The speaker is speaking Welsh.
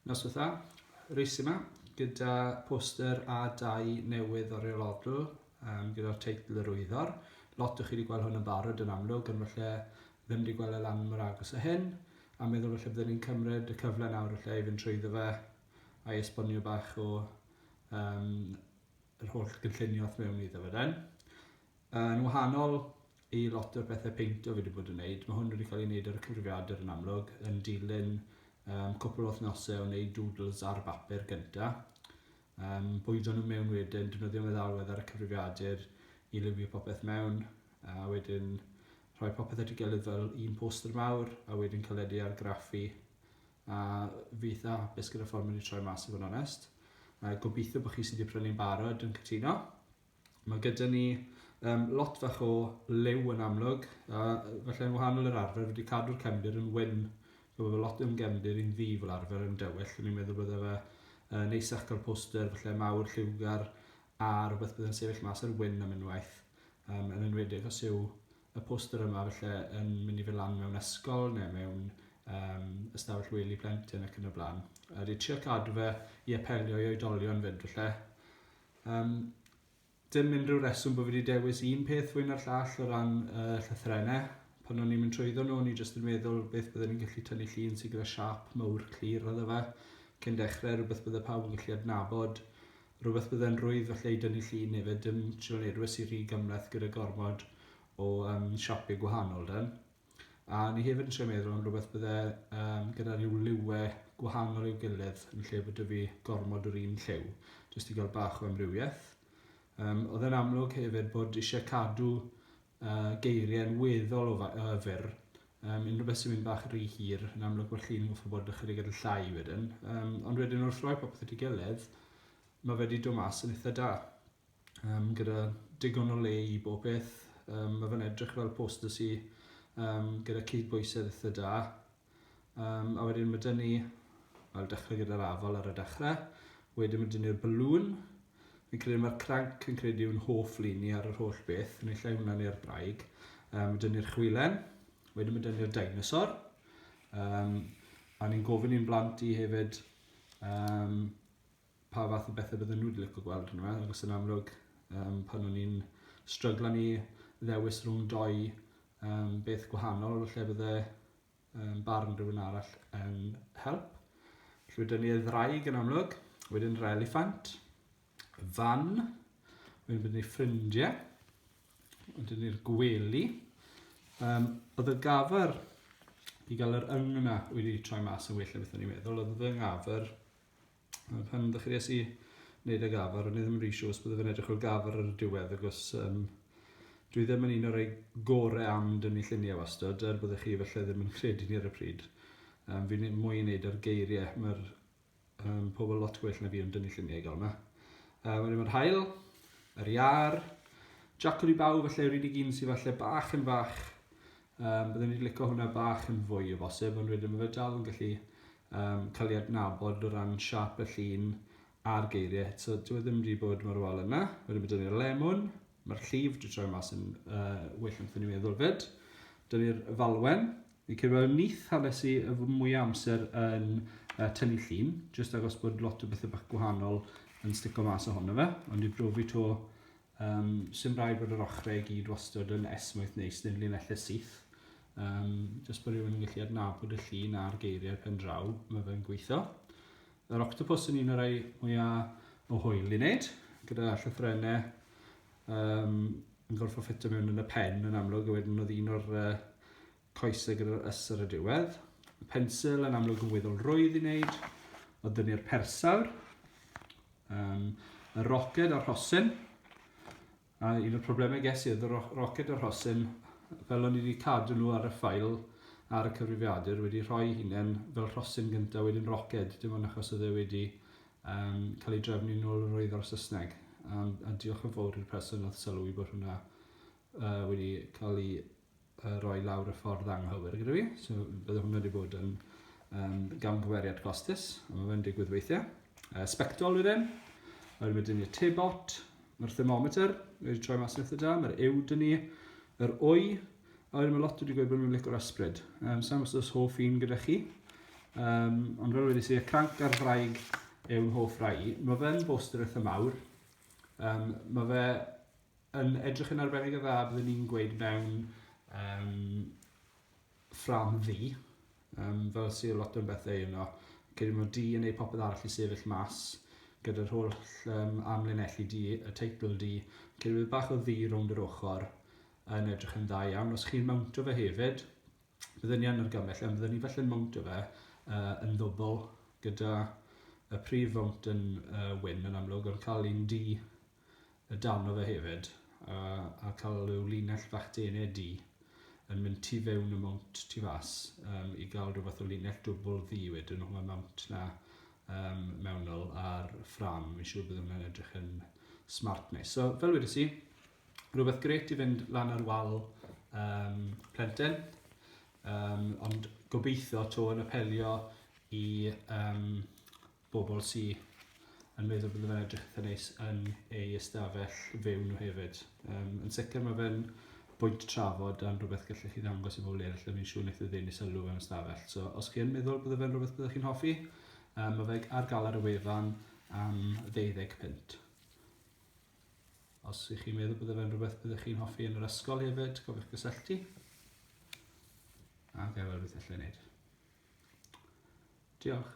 Nos ddiwetha, reis yma gyda poster a dau newydd o Real Odl um, gyda'r teitl yr wyddor. Lot o chi wedi gweld hwn yn barod yn amlwg, ond felly ddim wedi gweld e lan mor agos o hyn, a meddwl felly byddwn ni'n cymryd y cyfle nawr felly i fynd trwyddo fe a'i esbonio bach o um, yr holl gynllunio wrth mewn iddo fe den. Yn wahanol i lot o'r pethe peinto fi 'di bod yn neud, ma' hwn wedi cael ei neud ar y cyfrifiadur yn amlwg, yn dilyn um, cwpl o wythnose o neud doodles ar bapur gynta, um, bwydo nhw mewn wedyn, defnyddio meddalwedd ar y cyfrifiadur i liwio popeth mewn, a wedyn rhoi popeth at ei gilydd fel un poster mawr, a wedyn caledu ar graffi, a fi eitha hapus gyda ffordd mae wedi troi mas i fod yn onest. A gobeithio bod chi sydd wedi prynu'n barod yn cytuno. Mae gyda ni um, lot fach o lew yn amlwg, a felly yn wahanol i'r arfer, wedi cadw'r cefndir yn wyn. So mae lot o'n gefndir i'n ddi fel arfer yn dywyll, o'n i'n meddwl bydde fe uh, neisach cael poster, felly mawr lliwgar, a rhywbeth bydd yn sefyll mas ar wyn am unwaith, um, yn enwedig os yw y poster yma felly yn mynd i fy lan mewn ysgol neu mewn um, ystafell wely plentyn ac yn y blaen. A wedi trio cadw fe i apelio i oedolion fyd felly. Yym, dim unrhyw reswm bod fi wedi dewis un peth fwy na'r llall o ran uh, llythrenau. Pan o'n i'n mynd trwyddo nhw, o'n i jyst yn meddwl beth byddwn ni'n gallu tynnu llun sy'n gyda siap mawr clir oedd fe. Cyn dechrau, rhywbeth byddai pawb yn gallu adnabod. Rhywbeth byddai'n rwydd felly i dynnu llun hefyd, dim trio wneud rhywbeth sy'n rhy gymleth gyda gormod o um, siapiau gwahanol dan. A ni hefyd yn trio meddwl am rhywbeth bydde um, gyda rhyw liwe gwahanol i'w gilydd yn lle bod y fi gormod o'r un lliw, jyst i gael bach o amrywiaeth. Um, oedd e'n amlwg hefyd bod eisiau cadw uh, geiriau'n weddol o uh, fyr. Um, unrhyw beth sy'n mynd bach rhy hir, yn amlwg bod chi'n goffa bod ychydig yn llai wedyn. Um, ond wedyn wrth roi popeth at ei gilydd, mae wedi dod mas yn eitha da. um, gyda digon o le i bob peth. Um, mae fe'n edrych fel poster sy um, gyda cydbwysedd eitha da. Um, a wedyn mae dyn ni, wel dechrau gyda'r afal ar y dechrau, wedyn mae dyn ni'r balŵn, fi'n credu mae'r cranc yn credu yw'n hoff lun ni ar yr holl beth, yn ei llai hwnna neu'r braig. Um, mae dyn ni'r chwilen, wedyn mae dyn ni'r dinosaur. Um, a ni'n gofyn i'n blant i hefyd um, pa fath o bethe bydden nhw wedi licio gweld arno fe, achos yn amlwg um, pan o'n i'n stryglan i ddewis rhwng doi um, beth gwahanol, lle bydde um, barn rhywun arall yn help. Felly wedyn ni ddraig yn amlwg, wedyn yr eliffant, fan, wedyn byddwn ni ffrindiau, wedyn ni'r gwely. Um, oedd y gafr i gael yr yng yna wedi troi mas yn well o beth o'n i'n meddwl, oedd y yng ngafr Pan pan ddechrau es i wneud y gafr, o'n i ddim yn rhi siŵr os byddai fe'n edrych o'r gafr ar y diwedd, agos um, dwi ddim yn un o'r ei gore am dynnu lluniau wastad, er byddwch chi felly ddim yn credu ni ar y pryd. Um, fi'n mwy yn neud ar geiriau, mae'r um, pobl lot gwell na fi yn dynnu lluniau gael yma. Um, Wedyn mae'r hael, yr iar, Jack i baw, felly yr unig un sydd falle bach yn fach Um, byddwn i'n licio hwnna bach yn fwy o bosib, ond wedyn mae fe dal yn gallu um, cael ei adnabod o ran siap y llun a'r geiriau. So, dwi e ddim wedi bod mor wal yna. Wedyn mae dyn ni'r lemon, mae'r llif dwi'n troi mas yn uh, well am ni'n meddwl fyd. Dyn ni'r falwen, Fi'n credu bod nith hanes i mwy o amser yn uh, tynnu llun, jyst agos bod lot o bethau bach gwahanol yn stico mas ohono fe, ond i brofi to Yym, sim rhaid bod yr ochrau i gyd wastod yn esmwyth neis neu'n linellau syth. Yym, jyst bod rhywun yn gallu adnabod y llun a'r geiriau pen draw, mae fe'n gweithio. Yr octopus yn un o'r rhai mwyaf o hwyl i wneud, gyda llyffrennau um, yn gorfod ffitio mewn yn y pen yn amlwg, a wedyn oedd un o'r uh, Coesau gyda'r ys ar y diwedd. Y pensil yn amlwg yn weddol rwydd i wneud. Oedd dynu'r persawr. Um, y roced a'r rhosyn. A un o'r problemau ges i oedd y roced a'r rhosyn, fel o'n i wedi cadw nhw ar y ffail ar y cyfrifiadur, wedi rhoi hunain fel rhosyn gyntaf, wedyn roced, dim ond achos oedd e wedi um, cael ei drefnu nôl yr oedd o'r Saesneg. Um, a diolch yn fawr i'r person oedd sylwi bod hwnna uh, wedi cael ei uh, roi lawr y ffordd anghywir gyda fi. So bydde hwnna wedi bod yn um, gamgymeriad costus, a mae fe'n digwydd weithiau. Uh, spectol wedyn, wedyn mae dyn ni'r tebot, mae'r thermometer wedi troi mas yn eitha da, mae'r ew dyn ni, yr wy, a wedyn mae lot wedi gweud bod nhw'n licor ysbryd. Um, Sa'n gwybod os hoff un gyda chi, um, ond fel wedi si, y cranc ar fraig yw'n hoff rai. Mae fe'n boster eitha mawr, um, mae fe yn edrych yn arbennig o dda byddwn i'n gweud mewn um, ffram ddi, um, fel sy'n lot o'n bethau yno. Cydyn nhw di yn ei popeth arall i sefyll mas, gyda'r holl um, amlinelli di, y teitl di, cydyn nhw bach o ddi rownd yr ochr yn edrych yn dda iawn. Os chi'n mawntio fe hefyd, byddwn ni yn argymell, ond byddwn ni felly'n mawntio fe uh, yn ddwbl gyda y prif fawnt yn uh, wyn yn amlwg, ond cael un di y darn o fe hefyd a a cael rhyw linell fach dene du yn mynd tu fewn y mount tu fas um, i gael rhywbeth o linell dwbl ddu wedyn o'n mount na um, mewnol ar ffram. Mi'n siŵr bydd hwnna'n edrych yn smart nes. So, fel wedi si, rhywbeth gret i fynd lan ar wal um, plentyn, um, ond gobeithio to yn apelio i um, bobl sy yn meddwl bod fe'n edrych eitha neis yn ei ystafell fyw nhw hefyd. Um, yn sicr mae fe'n bwynt trafod am rhywbeth gallech chi ddangos i bobl eraill a fi'n siŵr wneud y ddyn i sylw fe'n ystafell. So, os chi yn meddwl bod fe'n rhywbeth byddwch chi'n hoffi, um, mae fe ar gael ar y wefan am 20 pint. Os ych chi'n meddwl bod fe'n rhywbeth byddwch chi'n hoffi yn yr ysgol hefyd, cofiwch gysylltu. A gael rhywbeth allai wneud. Diolch.